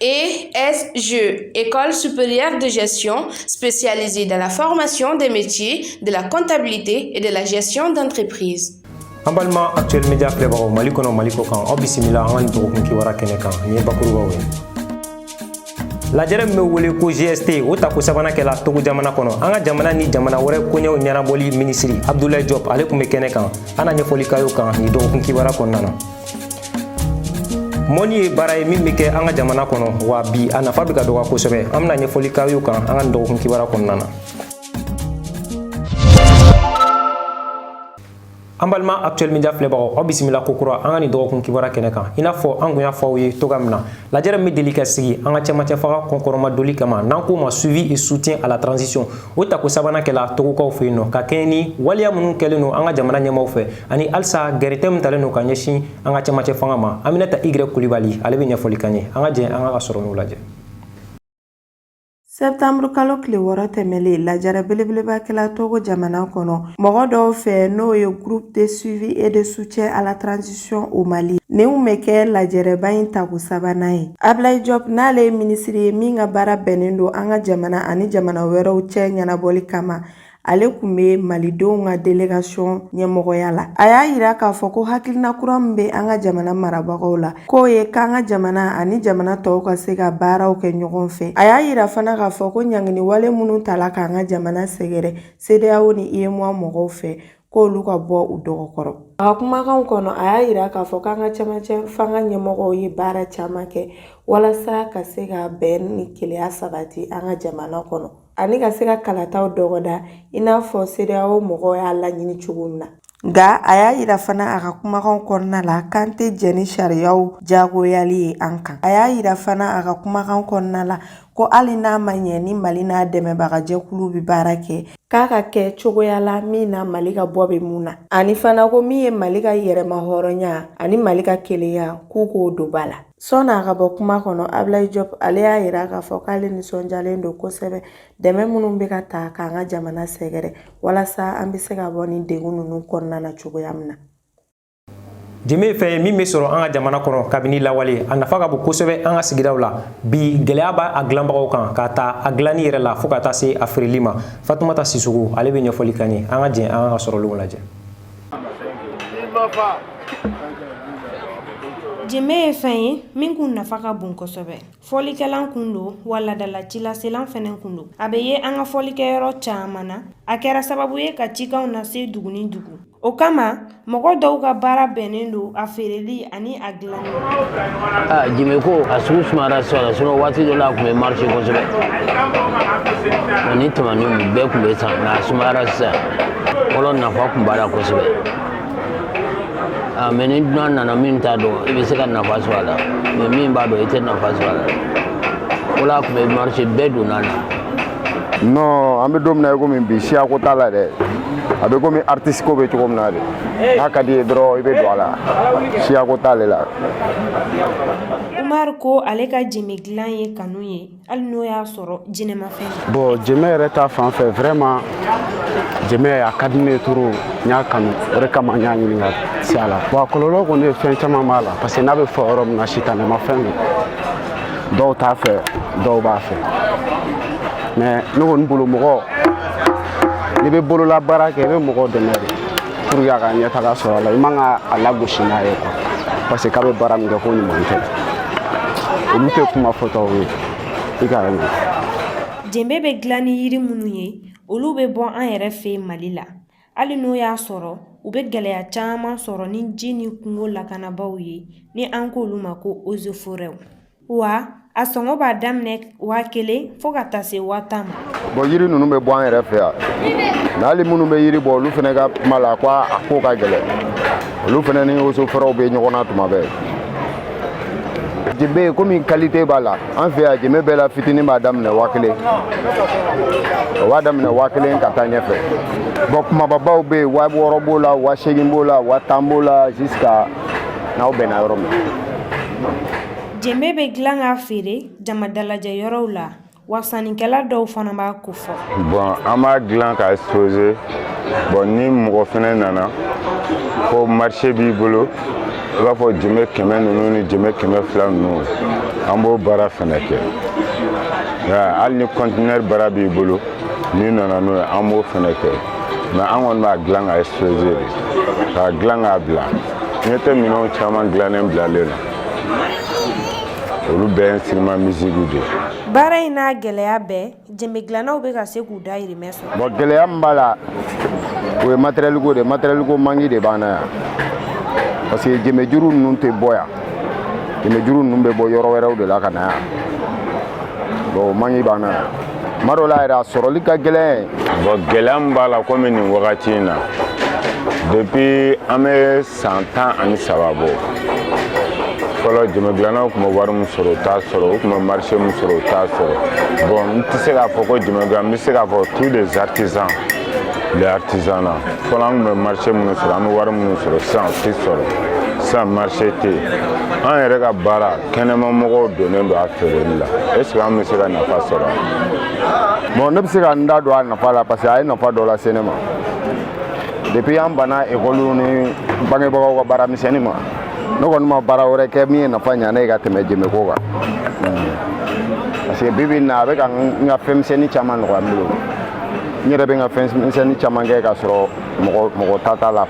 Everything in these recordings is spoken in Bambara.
ESG, École supérieure de gestion spécialisée dans la formation des métiers de la comptabilité et de la gestion d'entreprise. an balima actuel média filɛbagaw mali kɔnɔ mali kɔkan aw bisimila an ka nin dɔgɔkun kibaruya kɛnɛ kan nin ye bakurubaw ye lajɛrɛ min bɛ wele ko gst o tako sabanan kɛla togo jamana kɔnɔ an ka jamana ni jamana wɛrɛ koɲɛw ɲɛnabɔli minisiri abdulayi jɔp ale kun bɛ kɛnɛ kan an na ɲɛfɔli k'aw y'o kan nin dɔgɔkun kibaruya kɔnɔna na mɔnni ye baara ye min bɛ kɛ an ka jamana kɔnɔ wa bi a nafa bɛ ka dɔgɔya kosɛbɛ an bɛna ɲɛfɔli k'aw y'o kan an ka nin dɔgɔkun kibaruya kɔnɔna na an balima actuel media filɛbagaw aw bisimila ko kura an ka nin dɔgɔkun kibaruya kɛnɛ kan i n'a fɔ an kun y'a fɔ aw ye cogoya min na lajɛrɛ min bɛ deli ka sigi an ka cɛmancɛ fanga kɔkɔrɔmadonli kama n'an k'o ma suivi et soutien à la transition o tako sabanan kɛla togokaw fɛ yen nɔ ka kɛɲɛ ni waleya minnu kɛlen don an ka jamana ɲɛmaaw fɛ ani halisa gɛrɛntɛ min talen don ka ɲɛsin an ka cɛmancɛ fanga ma Aminata Y Kulibali ale bɛ ɲɛfɔli k'an ye an ka jɛ an k'a ka sɔrɔlenw lajɛ Sɛptanburu kalo tile wɔɔrɔ tɛmɛlen lajɛrɛ belebeleba kɛla Togo jamana kɔnɔ mɔgɔ dɔw fɛ n'o ye Groupe de suivi et de soutien à la transition au Mali nin tun bɛ kɛ lajɛrɛba in tako sabanan ye Ablaye Diop n'ale ye minisiri ye min ka baara bɛnnen don an ka jamana ani jamana wɛrɛw cɛ ɲɛnabɔli kama ale kun bɛ malidenw ka delegasiɔn ɲɛmɔgɔya la a y'a yira k'a fɔ ko hakilina kura min bɛ an ka jamana marabagaw la k'o ye k'an ka jamana ani jamana tɔw ka se ka baaraw kɛ ɲɔgɔn fɛ a y'a yira fana k'a fɔ ko ɲangini wale minnu tala k'an ka jamana sɛgɛrɛ CEDEAO ni UEMOA mɔgɔw fɛ k'olu ka bɔ u dɔgɔkɔrɔ a ka kumakanw kɔnɔ a y'a yira k'a fɔ k'an ka cɛmancɛ fanga ɲɛmɔgɔw ye baara caman kɛ walasa ka se ka bɛn ni kelenya sabati an ka jamana kɔnɔ ani ka se ka kalataw dɔgɔda i n'a fɔ CEDEAO mɔgɔw y'a laɲini cogo min na nka a y'a yira fana a ka kumakanw kɔnɔna la k'an tɛ jɛn ni sariyaw jagoyali ye an kan a y'a yira fana a ka kumakan kɔnɔna la ko hali n'a ma ɲɛ ni mali n'a dɛmɛbaga jɛkulu bɛ baara kɛ k'a ka kɛ cogoya la min na mali ka bɔ bɛ mun na ani fana ko min ye mali ka yɛrɛmahɔrɔnya ani mali ka kelenya k'u k'o don ba la Sɔni a ka bɔ kuma kɔnɔ Abilayi Jɔp ale y'a yira k'a fɔ k'ale nisɔndiyalen don kosɛbɛ dɛmɛ minnu bɛ ka ta k'an ka jamana sɛgɛrɛ walasa an bɛ se ka bɔ nin degun ninnu kɔnɔna na cogoya min na. Jenbe ye fɛn ye min bɛ sɔrɔ an ka jamana kɔnɔ kabini lawale, a nafa ka bon kosɛbɛ an ka sigidaw la. Bi, gɛlɛya b'a dilanbagaw kan, k'a ta a dilanni yɛrɛ la fo ka taa se a feereli ma. Fatumata Sisoko, ale bɛ ɲɛfɔli k'an ye. An ka jɛn an k'a ka sɔrɔlenw lajɛ. Jenbe ye fɛn ye min kun nafa ka bon kosɛbɛ. Fɔlikɛlan kun don wa laadala cilaselan fɛnɛ kun don. A bɛ ye an ka fɔlikɛ yɔrɔ caman na, a kɛra sababu ye ka cikanw lase dugu ni dugu. O kama mɔgɔ dɔw ka baara bɛnnen don a feereli ani a Ah, jeme ko a sugu sumayara sisan la sinon waati dɔ la a tun bɛ marché kosɛbɛ ani tamaninw bɛɛ tun bɛ san nka a sumayara sisan fɔlɔ nafa tun b'a la kosɛbɛ ah, mais ni dunan nana min t'a dɔn i bɛ se ka nafa sɔrɔ a la mais min b'a dɔn i tɛ nafa sɔrɔ a la o la a tun bɛ marché bɛɛ donna a la non an bɛ don min na i komi bi siyako t'a la dɛ a bɛ komi artiste ko bɛ cogo min na de n'a ka di i ye dɔrɔn i bɛ don a la siyako t'ale la Umar ko ale ka jeme dilan ye kanu ye hali n'o y'a sɔrɔ jinɛmafɛn don bon jeme yɛrɛ ta fan fɛ vraiment jeme a ka di ne ye trop n y'a kanu o de kama n y'a ɲini ka se a la bon a kɔlɔlɔ kɔni ye fɛn caman b'a la parce que n'a bɛ fɔ yɔrɔ min na sitanɛmafɛn don dɔw t'a fɛ dɔw b'a fɛ mais ne kɔni bolo mɔgɔ n'i bɛ bololabaara kɛ i bɛ mɔgɔ dɛmɛ de pour que a ka ɲɛtaga sɔrɔ a la i man kan k'a lagosi n'a ye quoi parce que k'a bɛ baara min kɛ ko ɲuman tɛ olu tɛ kuma fɔtaw ye i ka mɛn jenbe bɛ dilan ni yiri minnu ye olu bɛ bɔ an yɛrɛ fɛ Mali la Hali n'o y'a sɔrɔ u bɛ gɛlɛya caman sɔrɔ ni ji ni kungo lakanabaaw ye ni an k'olu ma ko ozoforɛ wa a sɔngɔ b'a daminɛ waa kelen fo ka taa se waa tan ma bon yiri ninnu bɛ bɔ an yɛrɛ fɛ yan mais hali minnu bɛ yiri bɔ olu fana ka kuma la ko a ko ka gɛlɛn olu fana ni ozoforɛw bɛ ɲɔgɔn na tuma bɛɛ jenbe komi qualité b'a la an fɛ yan jenbe bɛɛ la fitinin b'a daminɛ waa kelen o b'a daminɛ waa kelen ka taa ɲɛfɛ bon kumababaw bɛ yen waa wɔɔrɔ b'o la waa seegin b'o la waa tan b'o la jusqu'à n'aw bɛnna yɔrɔ min jenbe bɛ dilan k'a feere jamadalajɛ yɔrɔw la wa sannikɛla dɔw fana b'a ko bon an b'a dilan ka exposer bon ni mɔgɔ fɛnɛ nana ko marché b'i bolo i b'a fɔ jemɛ kɛmɛ ninnu ni jemɛ kɛmɛ fila ninnu an b'o baara fɛnɛ kɛ hali ni conteneur baara b'i bolo n'i nana n'o ye an b'o fɛnɛ kɛ mais an kɔni b'a dilan ka exposer de k'a dilan k'a bila ɲɛ tɛ minɛnw caman dilannen bilalen na olu bɛɛ ye instrument musique de ye baara in n'a gɛlɛya bɛɛ Jenbe dilannaw bɛ ka se k'u dahirimɛ sɔrɔ bon gɛlɛya min b'a la o ye matériel ko de matériel ko manque de b'an na yan parce que jeme juru ninnu tɛ bɔ yan jeme juru ninnu bɛ bɔ yɔrɔ wɛrɛw de la ka na yan bon o manque b'an na yan tuma dɔ la yɛrɛ a sɔrɔli ka gɛlɛn bon gɛlɛya min b'a la komi nin wagati in na depuis an bɛ san tan ani saba bɔ fɔlɔ jɛmɛgilannaw tun bɛ wari min sɔrɔ u t'a sɔrɔ u tun bɛ marché min sɔrɔ u t'a sɔrɔ bon n tɛ se k'a fɔ ko jɛmɛgilan n bɛ se k'a fɔ tous les artisans les artisanat fɔlɔ an tun bɛ marché minnu sɔrɔ an bɛ wari minnu sɔrɔ sisan u tɛ sɔrɔ sisan marché tɛ yen an yɛrɛ ka baara kɛnɛmamɔgɔw donnen don a feereli la est ce que an bɛ se ka nafa sɔrɔ bon ne bɛ se ka n da don a nafa la parce que a ye nafa dɔ lase ne ma depuis an banna ekɔli ni bangebagaw ka baara misɛnni ma ne kɔni ma baara wɛrɛ kɛ min ye nafa ɲa ne ye ka tɛmɛ jɛmɛko kan hmm. parce que bi bi na a bɛ ka n ka fɛn misɛnni caman nɔgɔya n bolo n yɛrɛ bɛ n ka fɛn misɛnni caman kɛ k'a sɔrɔ mɔgɔ ta t'a la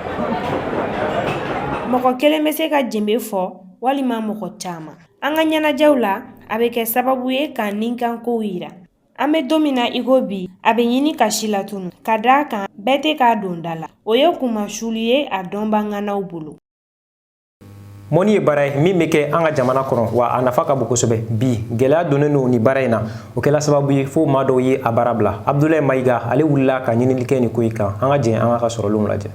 mɔgɔ kelen bɛ se ka jembe fɔ walima mɔgɔ caman an ka ɲɛnajɛw la a bɛ kɛ sababu ye k'an nikankow yira An bɛ don min na i ko bi a bɛ ɲini ka silatunun ka d'a kan bɛɛ tɛ k'a don da la o ye kunmasuuli ye a dɔnbaga ŋanaw bolo mɔni ye baara ye min bɛ kɛ an ka jamana kɔnɔ wa a nafa ka bon kosɛbɛ bi gɛlɛya donnen don nin baara in na o kɛla sababu ye fo maa dɔw ye a baara bila abudulayi mayiga ale wulila ka ɲinili kɛ nin ko in kan an ka jɛn an k'a ka sɔrɔlenw lajɛ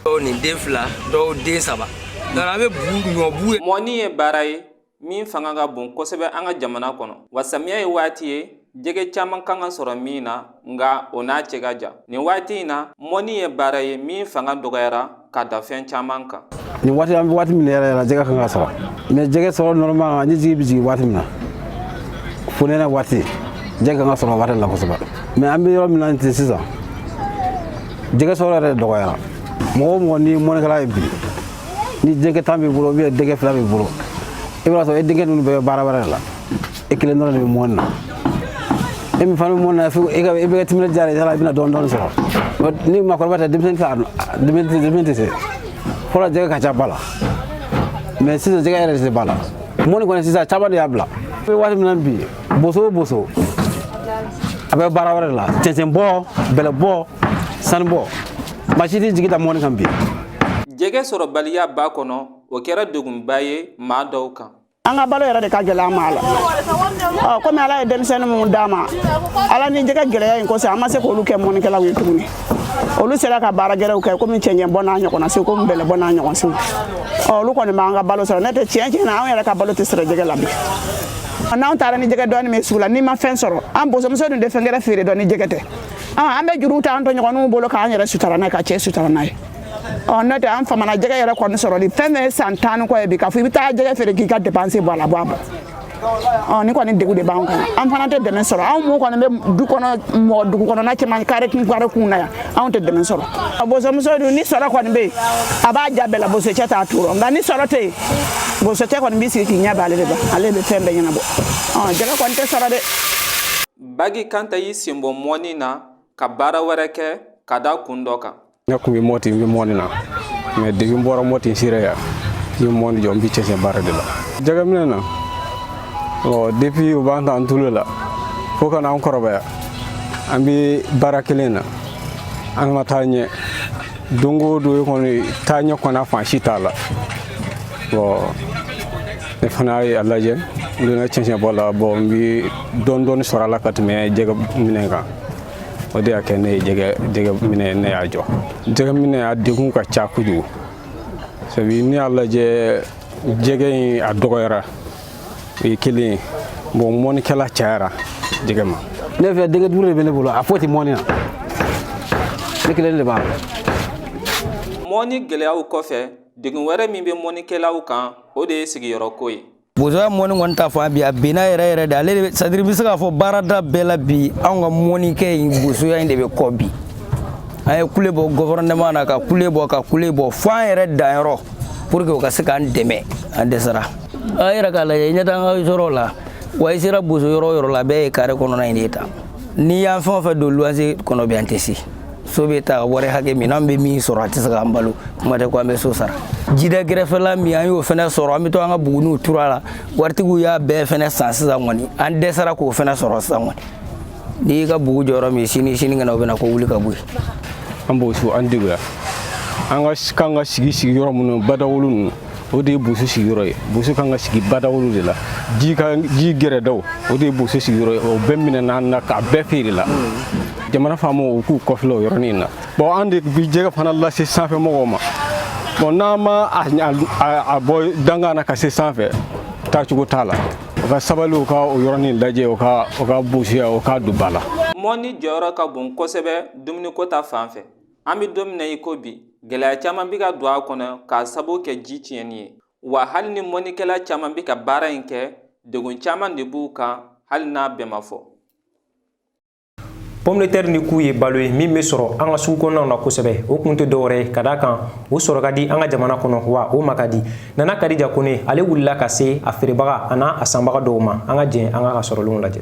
dɔw nin den fila dɔw den saba donc an bɛ bu ɲɔ bu ye mɔni ye baara ye min fanga ka bon kosɛbɛ an ka jamana kɔnɔ wa samiya ye waati ye jɛgɛ caman kan ka sɔrɔ min na nka o n'a cɛ ka jan nin waati in na mɔni ye baara ye min fanga dɔgɔyara ka da fɛn caman kan nin waati an bɛ waati min yɛrɛ la jɛgɛ kan ka sɔrɔ mais jɛgɛ sɔrɔ normal ni jigi bɛ jigin waati min na fonɛnɛ waati jɛgɛ kan ka sɔrɔ waati la kosɛbɛ mais an bɛ yɔrɔ min na ten sisan jɛgɛ sɔrɔ yɛrɛ dɔgɔyara mɔgɔ o mɔgɔ ni mɔnikɛla ye bi ni denkɛ tan b'i bolo ou bien denkɛ fila b'i bolo i b'a sɔrɔ e denkɛ ninnu bɛɛ bɛ baara wɛrɛ de la e kelen dɔrɔn de bɛ mɔni na e min fana bɛ mɔni na fo e ka e bɛ kɛ timinandiya de ye i bɛna dɔɔni dɔɔni sɔrɔ ni maakɔrɔba tɛ denmisɛnnin tɛ se fɔlɔ jɛgɛ ka ca ba la mais sisan jɛgɛ yɛrɛ de tɛ ba la mɔni kɔni sisan caman de y'a bila an bɛ waati min na bi boso o boso a bɛ baara wɛrɛ de la cɛncɛnbɔ bɛlɛbɔ sanubɔ maa si tɛ jigi da mɔni kan bi jɛgɛ sɔrɔbaliya ba kɔnɔ o kɛra degunba ye maa dɔw kan an ka balo yɛrɛ de ka gɛlɛ an ma la ɔ komi ala ye denmisɛnnin minnu d'an ma ala ni jɛgɛ gɛlɛya in kosɔn an ma se k'olu kɛ mɔnikɛlaw ye tuguni olu sera ka baara gɛrɛw kɛ komi cɛncɛn bɔ n'a ɲɔgɔnna se komi bɛlɛ bɔ n'a ɲɔgɔn se ɔ olu kɔni b'an ka balo sɔrɔ n'o tɛ tiɲɛ na anw yɛrɛ ka balo tɛ sɔrɔ jɛgɛ la bi n'anw taara ni jɛgɛ dɔɔni min sugu la n'i ma fɛn sɔrɔ an bosomuso dun tɛ fɛn gɛrɛ feere dɔn ni jɛgɛ tɛ an bɛ juru ta an tɔɲɔgɔnw bolo k'an yɛrɛ sutura n'a ye ka cɛ sutura n'a ye ɔ n'o tɛ an faamana jɛgɛ yɛrɛ kɔni sɔrɔli fɛn fɛn ye san tan ni kɔ ye bi k'a fɔ i bɛ taa jɛgɛ feere k'i ka depanse bɔ a la bɔ a bɔ ɔ ni kɔni degun de b'an kan an fana tɛ dɛmɛ sɔrɔ anw min kɔni bɛ du kɔnɔ mɔgɔ dugu kɔnɔna cɛman kare kun kare kun na yan anw tɛ dɛmɛ sɔrɔ a bosomuso dun ni sɔrɔ kɔni bɛ yen a b'a ja bɛɛ la bosocɛ t'a tɔɔrɔ nka ni sɔrɔ tɛ yen bosocɛ kɔni b'i sigi k'i ɲɛ b'ale de la ale bɛ fɛn bɛɛ ɲɛnabɔ ɔ jɛgɛ kɔni tɛ sɔrɔ dɛ bagi kanta y'i sen bɔ mɔni na ka baara wɛrɛ kɛ ka da kun dɔ kan ne kun bɛ mɔti n bɛ mɔni na mais depuis n bɔra mɔti n sera yan n ye mɔni jɔ n bɛ cɛncɛn baara de la jɛgɛminɛ na ɔ depuis u b'an ta an tulo la fo ka n'an kɔrɔbaya an bɛ baara kelen na an ma taa ɲɛ don o don kɔni taaɲɛ kɔni fan si t'a la ɔ ne fana ye a lajɛ n donna cɛncɛnbɔ la bɔn n bi dɔɔni dɔɔni sɔrɔ a la ka tɛmɛ jɛgɛ minɛ kan o de y'a kɛ ne ye jɛgɛ minɛ ne y'a jɔ jɛgɛ minɛ a degun ka ca kojugu sabi ne y'a lajɛ jɛgɛ in a dɔgɔyara o ye kelen ye bɔn mɔnikɛla cayara jɛgɛ ma ne fɛ denkɛ duuru de bɛ ne bolo a foyi tɛ mɔni na ne kelen de b'a la mɔni gɛlɛyaw kɔfɛ Degun wɛrɛ min bɛ mɔnikɛlaw kan o de ye sigiyɔrɔ ko ye. Bozoya mɔni kɔni ta fan bi a binna yɛrɛ yɛrɛ de ale de c'est-à-dire i bɛ se k'a fɔ baarada bɛɛ la bi anw ka mɔnikɛ in bozoya in de bɛ kɔ bi an ye kule bɔ gɔfɛrɛnɛman na ka kule bɔ ka kule bɔ fo an yɛrɛ danyɔrɔ pour que u ka se k'an dɛmɛ an dɛsɛra a yɛrɛ k'a lajɛ ɲɛ t'an ka yɔrɔ la wa i sera bozo yɔrɔ yɔrɔ la bɛɛ ye kare kɔnɔna in de ta n'i y'an fɛn o fɛn don luwanse kɔnɔ bi an tɛ se so bɛ ta wari hakɛ min n'an bɛ min sɔrɔ a tɛ se k'an balo kuma tɛ ko an bɛ so sara jida gɛrɛfɛla min an y'o fɛnɛ sɔrɔ an bɛ to an ka buguniw turu a la waritigiw y'a bɛɛ fɛnɛ san sisan kɔni an dɛsɛra k'o fɛnɛ sɔrɔ sisan kɔni n'i y'i ka bugu jɔ yɔrɔ min sini sinikɛnɛ u bɛ na ko wuli ka bɔ yen an boso an deguya an ka kan ka sigi sigi yɔrɔ minnu badawolo ninnu o de ye boso sigiyɔrɔ ye boso kan ka sigi badawolo de la ji ka ji gɛrɛdaw o de ye boso sigiyɔrɔ ye o bɛɛ minɛna an na k'a bɛɛ feere la jamana faamaw u k'u kɔfilɛ o yɔrɔnin in na bɔn an de bi jɛgɛ fana lase sanfɛ mɔgɔw ma bɔn n'an ma a bɔ dangan na ka se sanfɛ taacogo t'a la u ka sabali u ka o yɔrɔnin lajɛ u ka u ka bosoya u k'a don ba la mɔni jɔyɔrɔ ka bon kosɛbɛ dumuniko ta fan fɛ an bɛ don min na i ko bi gɛlɛya caman bɛ ka don a kɔnɔ k'a sababu kɛ ji tiɲɛni ye wa hali ni mɔnikɛla caman bɛ ka baara in kɛ degun caman de b'u kan hali n'a bɛɛ ma fɔ pɔmitɛri ni ku ye balo ye min bɛ sɔrɔ an ka sugu kɔnɔnaw na kosɛbɛ o kun tɛ dɔwɛrɛ ye ka d'a kan o sɔrɔ ka di an ka jamana kɔnɔ wa o ma ka di nana kadija kone ale wulila ka se a feerebaga an'a sanbaga dɔw ma an ka jɛn an k'a ka sɔrɔlenw lajɛ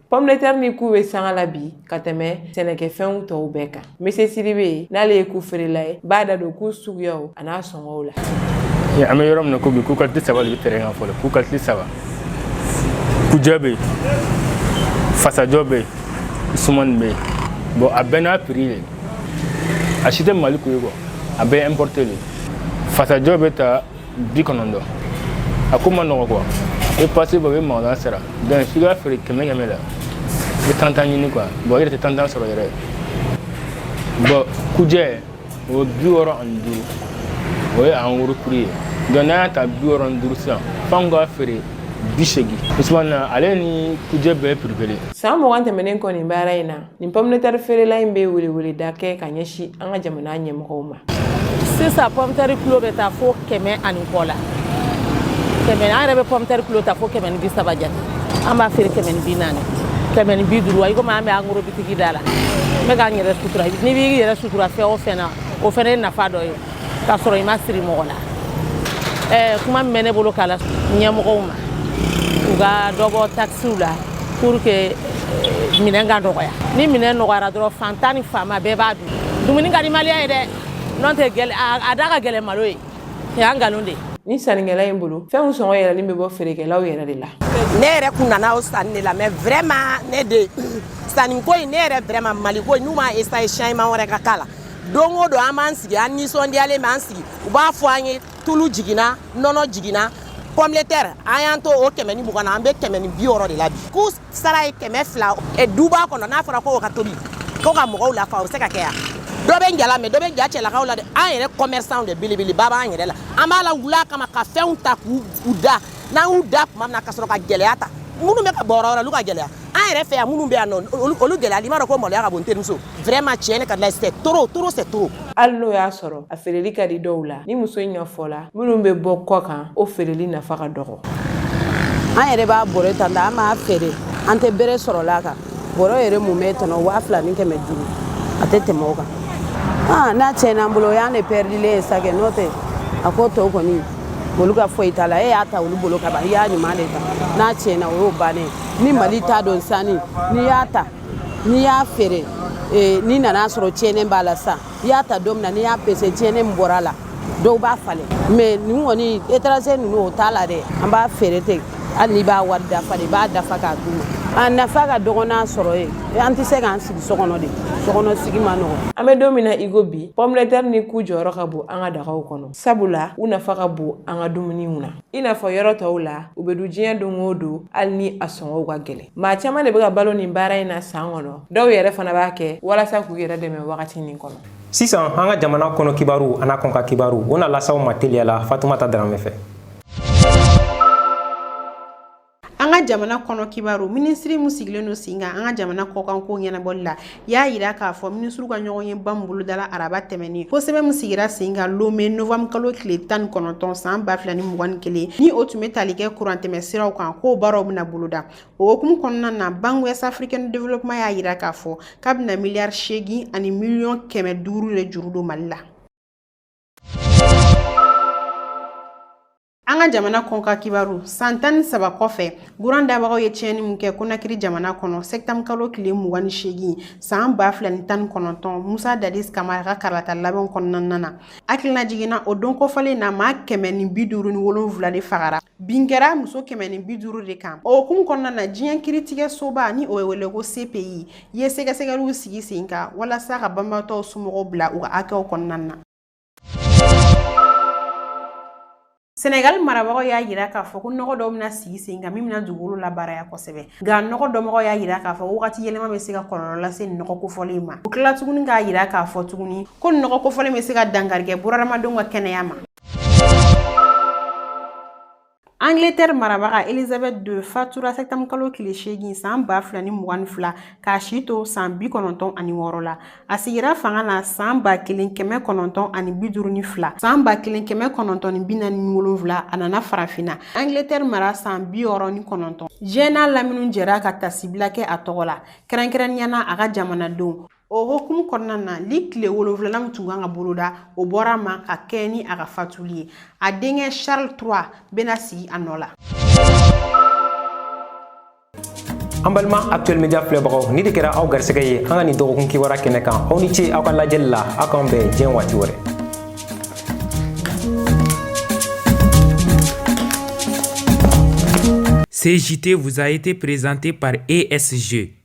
Pomme de terre ni ku bɛ sanga la bi ka tɛmɛ sɛnɛkɛfɛnw tɔw bɛɛ kan Mese Sidibe n'ale ye ku feerela ye b'a da don ku suguyaw an'a sɔngɔw la an bɛ yɔrɔ min na ko bi ku kalite saba de bɛ tɛrɛn kan fɔlɔ ku kalite saba kujɛ bɛ yen fasajɔ bɛ yen sumani bɛ yen bɔn a bɛɛ n'a piri de a si tɛ Mali ku ye kuwa a bɛɛ importé de fasajɔ bɛ ta bi kɔnɔntɔn a ko ma nɔgɔ kuwa i pase bɔ i bɛ magasin sara donc f'i ka feere kɛmɛ kɛmɛ la i bɛ tantan ɲini kuwa bɔn i yɛrɛ tɛ tantan sɔrɔ yɛrɛ bɔn kujɛ o bi wɔɔrɔ ani duuru o ye angoro piri ye donc n'an y'a ta bi wɔɔrɔ ani duuru sisan f'anw ka feere bi seegin sumani ale ni kujɛ bɛɛ piri kelen san mugan tɛmɛnen kɔ nin baara in na nin pomme de terre feerela in bɛ weleweleda kɛ ka ɲɛsin an ka jamana ɲɛmɔgɔw ma sisan pɔmtɛri kilo bɛ taa fo kɛmɛ ani kɔ la kɛmɛ an yɛrɛ bɛ pɔmtɛri kilo ta fo kɛmɛ ni bi saba jate an b'a feere kɛmɛ ni bi naani kɛmɛ ni bi duuru wa i komi an bɛ angoro bitigi da la n bɛ k'an yɛrɛ sutura n'i b'i yɛrɛ sutura fɛn o fɛn na o fana ye nafa dɔ ye k'a sɔrɔ i ma siri mɔgɔ la ɛɛ kuma min bɛ ne bolo k'a la ɲɛmɔgɔw ma u ka dɔ bɔ takisiw la pour que eh, minɛn ka nɔgɔya ni minɛn nɔgɔyara dɔrɔn faantan ni faama bɛɛ b'a dun dumuni ka di maliyɛn ye dɛ n'o tɛ a da ka gɛlɛn malo ye o y'an nkalon de ye ni sannikɛla in bolo fɛnw sɔngɔ yɛlɛlen bɛ bɔ feerekɛlaw yɛrɛ de la ne yɛrɛ kun nana o sanni de la mais vraiment ne de sanniko in ne yɛrɛ vraiment maliko in n'u m'a essayé changement wɛrɛ ka k'a la don o don an b'an sigi an nisɔndiyalen b'an sigi u b'a fɔ an ye tulu jiginna nɔnɔ jiginna pomme de terre an y'an to o kɛmɛ ni mugan na an bɛ kɛmɛ ni bi wɔɔrɔ de la bi ku sara ye kɛmɛ fila duba kɔnɔ n'a fɔra ko o ka tobi ko ka mɔgɔw lafa o bɛ se ka kɛ yan dɔ bɛ jala mais dɔ bɛ ja cɛlakaw la dɛ an yɛrɛ kɔmɛrisanw de belebeleba b'an yɛrɛ la an b'a lawul'a kama ka fɛnw ta k'u da n'an y'u da tuma min na ka sɔrɔ ka gɛlɛya ta minnu bɛ ka bɔ yɔrɔ wɛrɛ olu ka gɛlɛya an yɛrɛ fɛ yan minnu bɛ yan nɔ olu gɛlɛya i b'a dɔn ko maloya ka bon terimuso vraiment tiɲɛ ne ka layi c'est trop trop c'est trop hali n'o y'a sɔrɔ a feereli ka di dɔw la ni muso in ka fɔ la minnu bɛ bɔ kɔ kan o feereli nafa ka dɔgɔ an yɛrɛ b'a bɔrɛ ta nka an b'a feere an tɛ bere sɔrɔla a kan bɔrɛ yɛrɛ mumɛ tɔnɔ waa fila ni kɛmɛ duuru a tɛ tɛmɛ o kan ah, n'a tiɲɛna an bolo o y'an de pɛridilen ye sa kɛ n'o tɛ a ko tɔw kɔni olu ka foyi t'a la e y'a ta olu bolo ka ban i y'a ɲuman de ta n'a tiɲɛna o y'o bannen ni Mali ta don sanni n'i y'a ta n'i y'a feere eh, n'i nana a sɔrɔ tiɲɛnen b'a la sa i y'a ta don min na n'i y'a pese tiɲɛnen min bɔra a la dɔw b'a falen mais nin kɔni étranger ninnu o t'a la dɛ an b'a feere ten hali n'i b'a wari dafa de i b'a dafa k'a d'u ma a nafa ka dɔgɔn n'a sɔrɔ ye an tɛ se k'an sigi so kɔnɔ de so kɔnɔ sigi ma nɔgɔ an bɛ don min na i ko bi pomme de terre ni ku jɔyɔrɔ ka bon an ka dagaw kɔnɔ sabula u nafa ka bon an ka dumuniw na i n'a fɔ yɔrɔ tɔw la u bɛ dun diɲɛ don o don hali ni a sɔngɔw ka gɛlɛn maa caman de bɛ ka balo nin baara in na san kɔnɔ dɔw yɛrɛ fana b'a kɛ walasa k'u yɛrɛ dɛmɛ wagati nin kɔnɔ sisan an ka jamana kɔnɔ kibaru an'a kɔkan kibaru o na las'aw ma teliya la fatumata daramɛ fɛ an ka jamana kɔnɔ kibaru minisiri min sigilen don sen kan an ka jamana kɔkanko ɲɛnabɔli la y'a yira k'a fɔ minisiriw ka ɲɔgɔnyeba min bolodala araba tɛmɛnen ko sɛbɛn min sigira sen kan lome novanburu kalo tile tan ni kɔnɔntɔn san ba fila ni mugan ni kelen ni o tun be tali kɛ kurantɛmɛ siraw kan k'o baaraw bena boloda o hokumu kɔnɔna na banque ouest africaine de développement y'a yira k'a fɔ k'a bena miliyari seegin ani miliyɔn kɛmɛ duuru de juru don mali la An ka jamana kɔkan kibaru san tan ni saba kɔfɛ kuran dabagaw ye tiɲɛni min kɛ konakiri jamana kɔnɔ sɛtanburukalo tile mugan ni seegin san ba fila ni tan ni kɔnɔntɔn musa dadis kamara ka kalata labɛn kɔnɔna na hakilinajigin na o don kofɔlen na maa kɛmɛ ni bi duuru ni wolonwula de fagara bin kɛra muso kɛmɛ ni bi duuru de kan o hukumu kɔnɔna na diɲɛ kiritigɛ soba ni o bɛ wele ko cpi ye sɛgɛsɛgɛliw sigi sen kan walasa ka banbaatɔw somɔgɔw bila u ka hakɛw kɔnɔna na Senegali marabagaw y'a yira k'a fɔ ko nɔgɔ dɔw bɛna sigi sen kan min bɛna dugukolo labaaraya kosɛbɛ nka nɔgɔ dɔnbagaw y'a yira k'a fɔ wagati yɛlɛma bɛ se ka kɔlɔlɔ lase nɔgɔ kofɔlen ma u tila tuguni k'a yira k'a fɔ tuguni ko nɔgɔ kofɔlen bɛ se ka dankari kɛ bunadamadenw ka kɛnɛya ma Angleterre marabaga Elizabeth II fatura septembre kalo tile seegin san ba fila ni mugan ni fila k'a si to san bi kɔnɔntɔn ani wɔɔrɔ la a sigira fanga na san ba kelen kɛmɛ kɔnɔntɔn ani bi duuru ni fila san ba kelen kɛmɛ kɔnɔntɔn ni bi naani ni wolonwula a nana farafinna Angleterre mara san bi wɔɔrɔ ni kɔnɔntɔn diɲɛ n'a lamini jɛra ka tasibila kɛ a tɔgɔ la kɛrɛnkɛrɛnniya na a ka jamanadenw o hokumu kɔnɔna na ligi tile wolonfilanan min tun kan ka boloda o bɔra a ma ka kɛɲɛ ni a ka fatuli ye a denkɛ charles trois bɛna sigi a nɔ la an balima actuel media filɛbagaw nin de kɛra aw garisɛgɛ ye an ka nin dɔgɔkun kibaruya kɛnɛ kan aw ni ce aw ka lajɛli la aw k'an bɛn diɲɛ waati wɛrɛ Ce JT vous a été présenté par ESG.